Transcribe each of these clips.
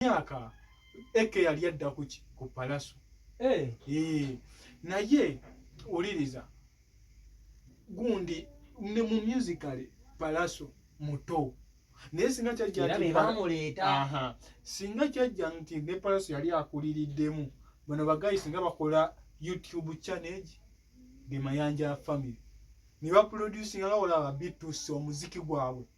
myaka eke yali adda ku ki ku palaso eh eh naye uliriza gundi ne mu musical palaso muto naye singa kyajja nti bamuleeta aha singa kyajja nti ne palaso yali akuliriddemu bano bagayi singa bakola youtube channel de mayanja family ne baproducinga nga olaba bituusa omuziki gwabwe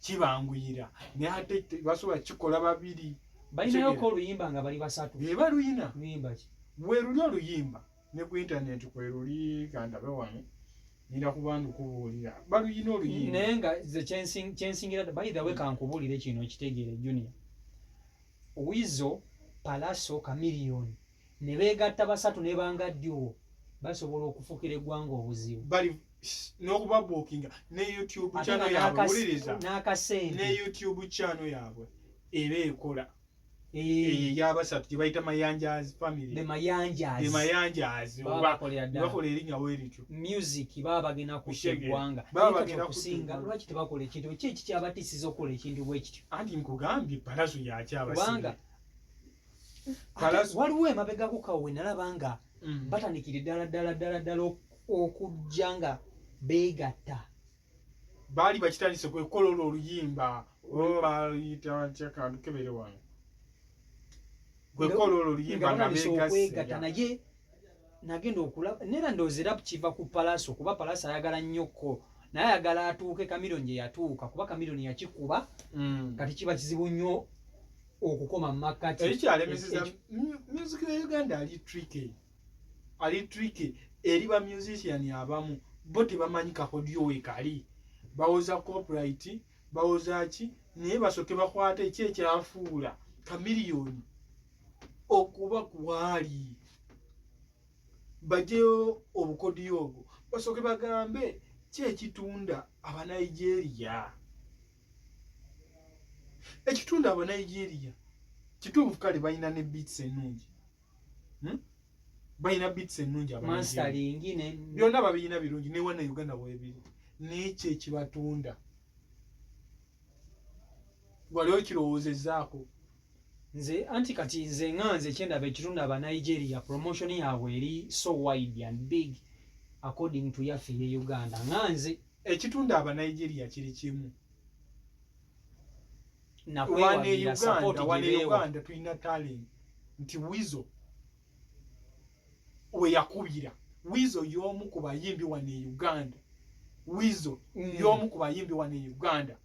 kibanguyira naye ate basobola kikola babiri balinayoko oluyimba nga bali basatu eba luyina luyimba ki weruli oluyimba ne ku intaneti kweruli kandabe wano nina kuba ndikubuulira baluyina oluyimba naye nga ze kyensingira by the way kankubuulire kino kitegeere junior wizo palaso kamiliyoni ne beegatta basatu ne bangaddiwo basobola okufukira eggwanga obuzibu bali n'okubabuukinga ne youtube channel yaabwe wuliriza n'akasente ne youtube channel yaabwe eba ekola eyabasatu eh. eh, gyebayita mayanjaz familyemayanjaz bakola erinya werityo music baba bagenda kuegwanga kusinga lwaki tebakola ekintu ki ekikyabatisiza okukola ekintu bwekityo anti nkugambye palaso yakyabasibanga waliwo emabegako kawo wenalaba nga mm. batandikire ddala ddala ddala ddala okujja nga beegatta baali bakitandise kwekola olwo oluyimba obayita batya kantu kebere wano kwekola olwo oluyimba nga beegatta naye nagenda okulaba nera ndowooza era kiva ku palaso kuba palaso ayagala nnyo ko naye ayagala atuuke kamironi gye yatuuka kuba kamironi yakikuba mm. kati kiba kizibu nnyo okukoma mu makkati ekyalemeseza music ya uganda ali tricky ali tricky eri ba musician abamu bo tebamanyi kakodyo wekali bawoza copyright bawoza ki naye basoke bakwata eki ekyafuula kamiliyoni okuba kuwaali bajeyo obukodiyo obwo basoke bagambe ki ekitunda abanigeria ekitundu aba nigeria kituufu kale balina ne beats ennungi hmm? balina beats ennungi byonna babirina birungi newana uganda webiri nekyo ekibatunda wali okirowoozezaako nze anti kati nze nga nze kyendaba ekitundu aba nigeria promotion yaabwe eri so wide and big according to yaffe ye uganda nga nze ekitundu aba Nigeria kiri kimu wane Uganda wane Uganda tulina talent nti wizo we yakubira wizo y'omu ku bayimbi wane Uganda wizo mm. y'omu ku bayimbi wane Uganda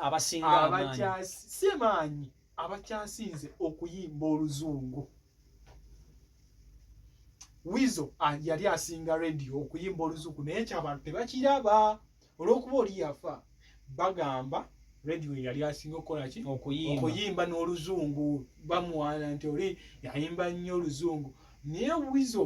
abasinga abakyasi si maanyi abakyasinze okuyimba oluzungu wizo ah, yali asinga radio okuyimba oluzungu naye kyabantu tebakiraba olwokuba oli yafa bagamba radio yali asinga okukolaki okuyimba n'oluzungu bamuwaana nti oli yayimba nnyo oluzungu naye wizo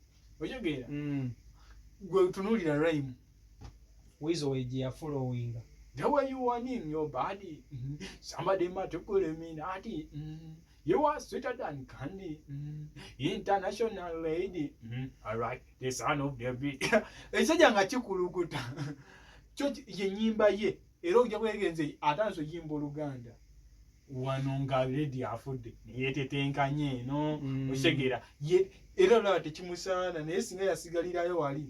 oyogeera mm. gwe otunuulira raimu wizo weji yafula owinga the way you want in your body mm. somebody matukulemina ati mm. You are sweeter than candy, mm. international lady. Mm. All right, the son of David. Ekisajja nga kikulukuta. Kyo ye nyimba ye. era okujja kwegenze atandise oyimba oluganda wano nga ledi afudde neyetetenkanye eno mm. okitegeera era olaba tekimusaana naye singa yasigalirayo wali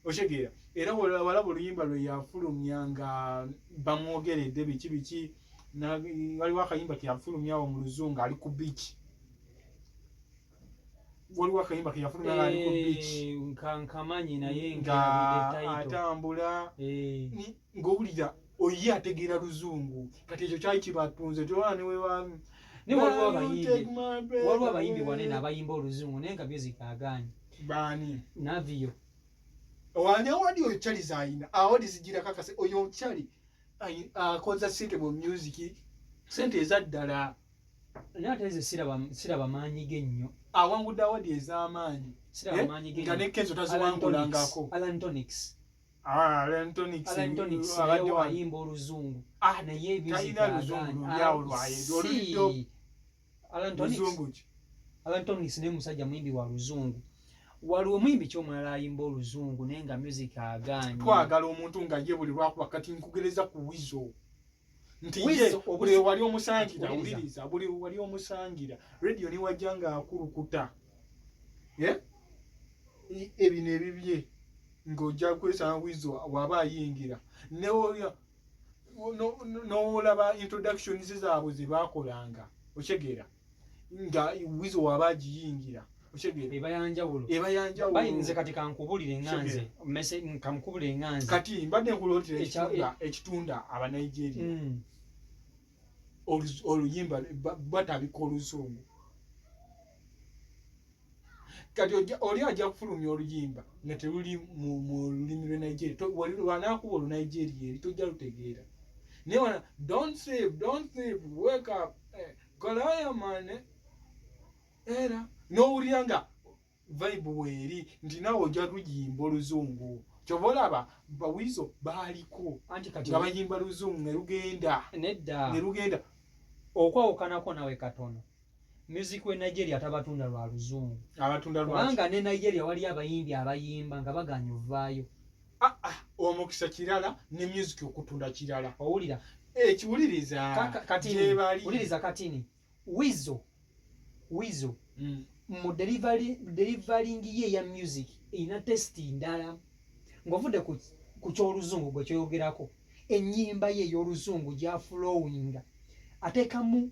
okitegeera era walaba oluyimba lwe yafulumya nga bamwogeredde biki biki waliwo akayimba teyafulumyawo mu luzungu ali ku biiki waliwo akayimba keyafuna nga ali ku eh, beach nkankamanyi naye nga atambula eh. ng'owulira oye ategeera luzungu kati ekyo kyali kibatunze tolaba ne webaami naye waliwo abayimbi waliwo abayimbi wanene abayimba oluzungu naye nga music agaanyi baani naviyo wani awadi oyo chali zayina awadi zijira kakase oyo chali akoza sente mu music sente ezaddala naye ate nze siraba maanyi ge nnyo awangudde awadi ez'amaanyi eh, nga ne kenzo taziwangulangako alantonics Ah, ayimba oluzungu ah, naye ebizialantonics naye musajja muyimbi wa luzungu waliwo muyimbi ki omulala ayimba oluzungu naye nga music agaanyi twagala omuntu nga ye buli lwakuba kati nkugereza ku wizo nti ye buli wali omusangira awuliriza buli wali omusangira radio ni wajja nga akulukuta eh? ebino ebibye ng'ojja kwesanga wizo waba ayingira newoya nowolaba introductions zaabwe ze baakolanga okitegeera no, no, nga wizo waba agiyingira ebayanjawulobayinze kati kankubulire nganze mese kamukubulire nganze kati mbadde nkulotera ekitunda e- abanigeria mm. oluyimba batabika oluzungu kati oli ajja kufulumya oluyimba nga teluli mu lulimi lwe nigeria wanakuba olu nigeria eri tojja lutegeera naye wana don't sleep don't sleep wake up eh, kolaya mane era n'owulira nga vibe weeri nti nawe ojja luyimba oluzungu kyova olaba bawizo baaliko nga bayimba luzungu ne lugenda ne lugenda okwawukanako nawe katono music we nigeria tabatunda lwa luzungu abatunda lwa kubanga ne nigeria wali abayimbi abayimba nga baganya ovaayo ah, ah, omukisa kirala ne music okutunda kirala owulira ekiwuliriza katiniwuliriza katini wizo wizo mm. mu delivaling ye ya music erina testi ndala ngaovudde ku kyoluzungu gwe kyoyogerako enyimba ye eyoluzungu gyafulowinga atekamu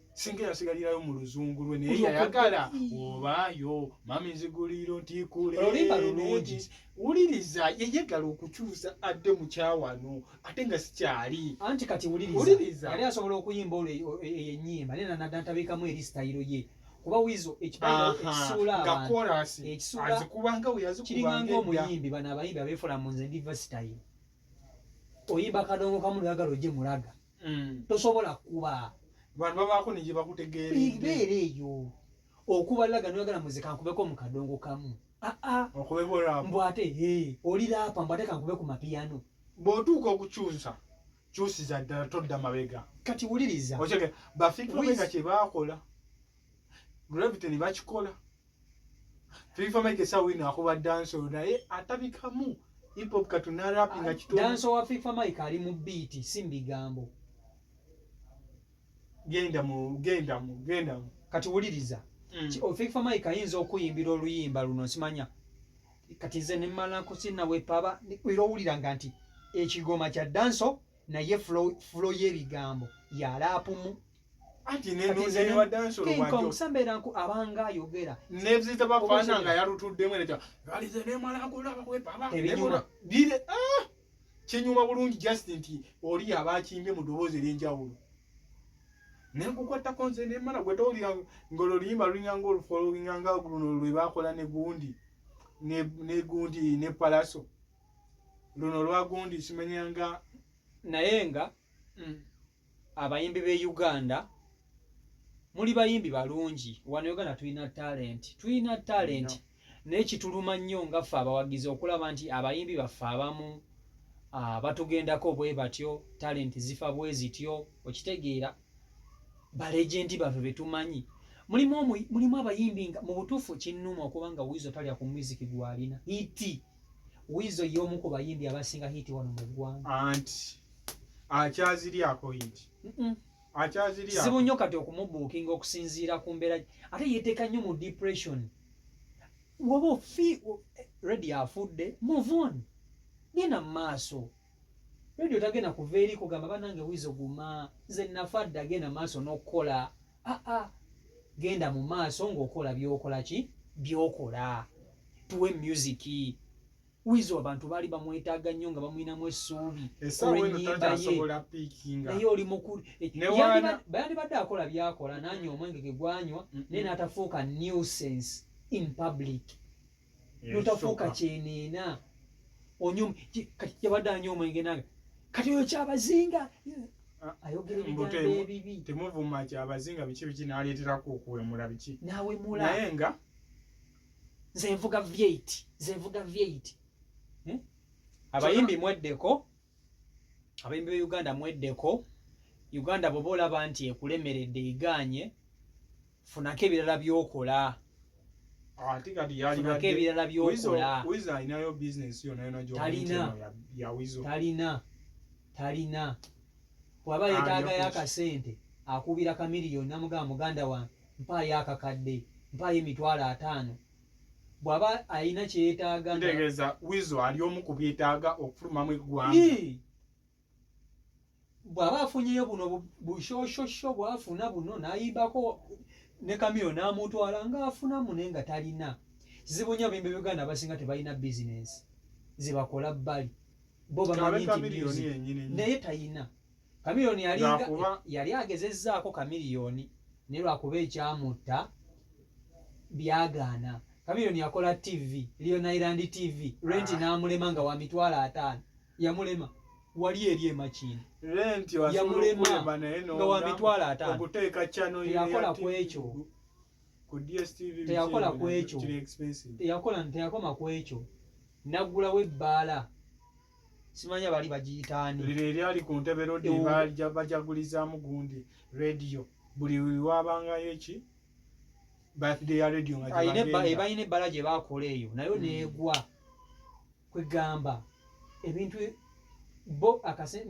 singa yasigalirayo mu luzungu lwe naye yayagala obaayo mami nziguliro ntikuleolimba lulungi wuliriza yeyegala okukyusa adde mukyawano ate nga sikyali anti kati wuliriza yali asobola okuyimba olwo eyenyimba e, e, naye nanada ntabikamu eri sitayiro ye kuba wizo ekisuulaekisuulaazikubangaweyazikubanga omuyimbi bano abayimbi abeefula mu nze ndiva sitayiro oyimba kadongo kamu lwagala ogye mulaga mm. tosobola kuba bantu babaako ne gye bakutegeerabeera eyo okuba laga noyagala muze kankubeko mu kadongo kamu aa ah, ah. mbu ate oli laapa mbu ate kankube ku mapiyano bw'otuuka okukyusa kyusiza ddala todda mabega kati wuliriza bafikiromega kye baakola gravity ne bakikola Twifa Mike sa wino akuba dance oda e atabikamu hip hop katuna rap nga kitu dance wa Twifa Mike ali mu beat simbi gambo genda mu genda mu genda mu kati wuliriza mm. ki Twifa Mike ayinza okuyimbira oluyimba luno simanya kati nze ne mala kusina we paba ni kwiro wulira nganti ekigoma kya dance naye flow flow ye bigambo ya rap mu anti nenonewadansolowajosambeera nku abanga ayogera neziza bafana nga yalutuddemu eneja alize nemalagola bakwepa abaebinyuma bire ah! kinyuma bulungi just nti oli aba akimbye mu ddoboozi ery'enjawulo nenkukwatako nze nemala gwe towulira ngolo luyimba lulinga nga olufolowinga nga luno lwe bakola ne gundi ne gundi ne palaso luno lwa gundi simenyanga naye nga mm. abayimbi be uganda muli bayimbi balungi wano uganda tulina talent tulina talent naye kituluma nnyo nga ffe abawagizi okulaba nti abayimbi baffe abamu ah, batugendako bwe batyo talent zifa bwe zityo okitegeera balegendi baffe betumanyi mulimu abayimbi nga mu butuufu kinnuma okuba nga wiizo talya ku muziki gwalina iti Weasel y'omu ku bayimbi abasinga hit wano mu ggwanga. Anti akyaziryako hit. Akyaziryako. Kizibu nnyo kati okumubuukinga okusinziira ku mbeera ate yeeteeka nnyo mu depression. Woba ofi redi afudde move on genda mu maaso. Redi otagenda kuva eri kugamba banange Weasel guma nze nafa dda genda mu maaso n'okukola. aa ah, ah. genda mu maaso ng'okola byokola ki byokola tuwe music wizo abantu baali bamwetaaga nnyo nga bamulinamu essuubi olwenyimba ye naye oli mukulu eh, yandibadde akola byakola nanywa omwenge ge gwanywa naye n'atafuuka nuisance in public notafuuka kyeneena onyum kati yabadde anyooma engenanga kati oyo kyabazinga ayogera ebigambo ebibi temuvuma kyabazinga biki biki naleeterako okuwemula biki nawemula naye nga nze nvuga vyeit nze nvuga vyeit eh? abayimbi mweddeko abayimbi be uganda mweddeko uganda bwoba olaba nti ekulemeredde iganye funako ebirala byokola ate kati yalifunako ebirala byokola wizo alinayo bizinesi yonayonatalina talina talina bwaba yetaagayo akasente akuubira kamiliyoni namugamba muganda wange mpaayo akakadde mpaayo emitwalo ataano bwaba alina kyeyetaaga ntegeeza wizo ali omu ku byetaaga okufulumamu eggwanga bwaba afunyeyo buno bushoshosho bwafuna buno nayimbako ne kamiyo namutwala ngaafuna mune nga talina zibu nyo bimbe uganda abasinga tebalina bizinensi zibakola bbali bo bamanyi nti naye talina Chameleone yali yali agezezzaako Chameleone ne lwakuba ekyamutta byagaana. Chameleone yakola TV, Leon Island TV, Rent ah. n'amulema nga wa mitwalo ataano. Yamulema. Wali eri emakindi. Rent yamulema nga wa mitwalo ataano. Okuteeka channel ya yakola ku ekyo. Ku DSTV teyakola ku ekyo. Teyakola teyakoma ku ekyo. Naggulawo ebbaala. simanya bali bagiyitaani lino eryali ku ntebe lodi bajagulizaamu gundi rediyo buli wabangayo eki birthday ya rediyo ngabalina ebbala gye bakola eyo nayo hmm. neegwa kwegamba ebintu bo akase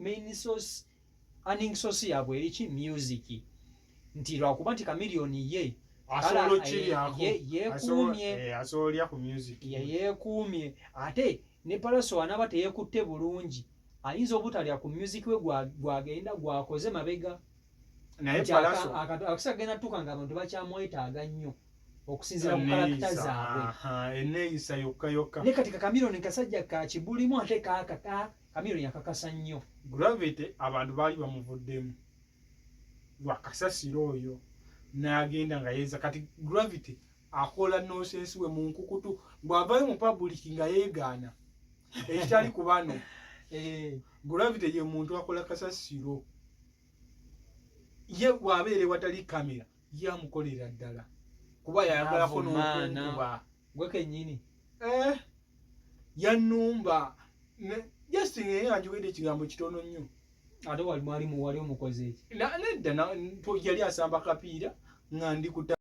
main source earning source yabwe eri ki music nti lwakuba nti chameleon ye yekuumye eh, yekuumye ate ne palaso anaba teyekutte bulungi ayinza obutalya ku music we gwagenda gwakoze mabega naye palaso akasagenda tuka nga abantu bakyamwetaaga nnyo okusinzira ku kalakita zaabwe eneyisa yokka yokka ne kati kakamiro ne kasajja kakibulimu ate kaakaka Camille yakakasa nnyo. Gravity abantu baali bamuvuddemu lwa kasasiro oyo n'agenda nga yeeza kati Gravity akola nonsense we mu nkukutu bw'avayo mu public nga yeegaana ekitali ku bano eh. Gravity ye muntu akola kasasiro ye bw'abeera ewatali kamera yamukolera ddala kuba yayagalako nokunkuba gwe kenyini eh, yanumba just naye anjogedde ekigambo kitono nnyo ate wali mwali muwali omukozi eki nedda yali asamba kapiira nga ndi kuta